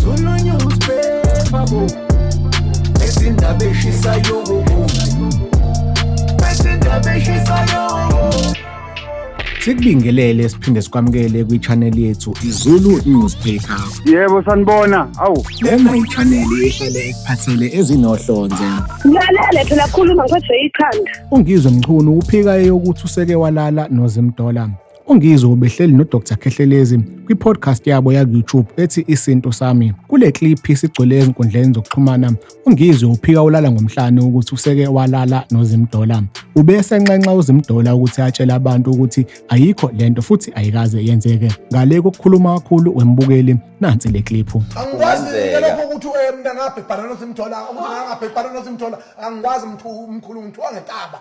Zulu newspaper bo Ezindaba eshisayo bo Ezindaba eshisayo Sikubingelele siphinde sikwamukele kwi-channel yethu iZulu Newspaper. Yebo sanibona. Awu. Lena i-channel ehlele ekuphathele ezinohlonze. Ngilalele phela khuluma ngiphethe ikhanda. Ungizwe Mchunu uphika eyokuthi useke walala noZimdola. UNgizwe ubehleli noDr Khehlelezi kwi-podcast yabo yaku-YouTube ethi Isintu Sami. Kule clip isigcwele ezinkundleni zokuxhumana, uNgizwe uphika ulala ngomhlane ukuthi useke walala noZimdola. Ube esenxenxa uZimdola ukuthi atshele abantu ukuthi ayikho lento futhi ayikaze yenzeke. Ngale kokukhuluma kakhulu wembukeli, nansi le clip. Angikwazi lokho ukuthi eh, mntangabhebhana noZimdola, mntangabhebhana noZimdola, angikwazi mkhulu ngithiwa ngetaba.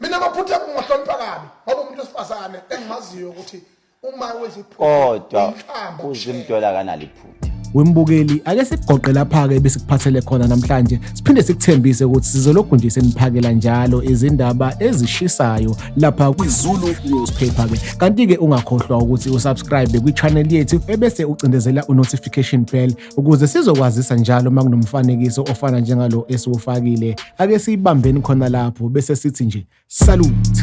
mina amaphutha kungahlonipha kabi ngoba umuntu wesifazane engimaziyo ukuthi uma wenza iphutha kodwa uzimdola kanali iphutha wembukeli ake sikugoqe lapha-ke besikuphathele khona namhlanje siphinde sikuthembise ukuthi sizolokhu nje seniphakela njalo izindaba ezishisayo lapha kwizulu newspaper-ke kanti-ke ungakhohlwa ukuthi usubscribe kwi-channel yethu ebese ucindezela u-notification bell Ukuze sizokwazisa njalo uma kunomfanekiso ofana njengalo esiwufakile, ake siyibambeni khona lapho bese sithi nje salute.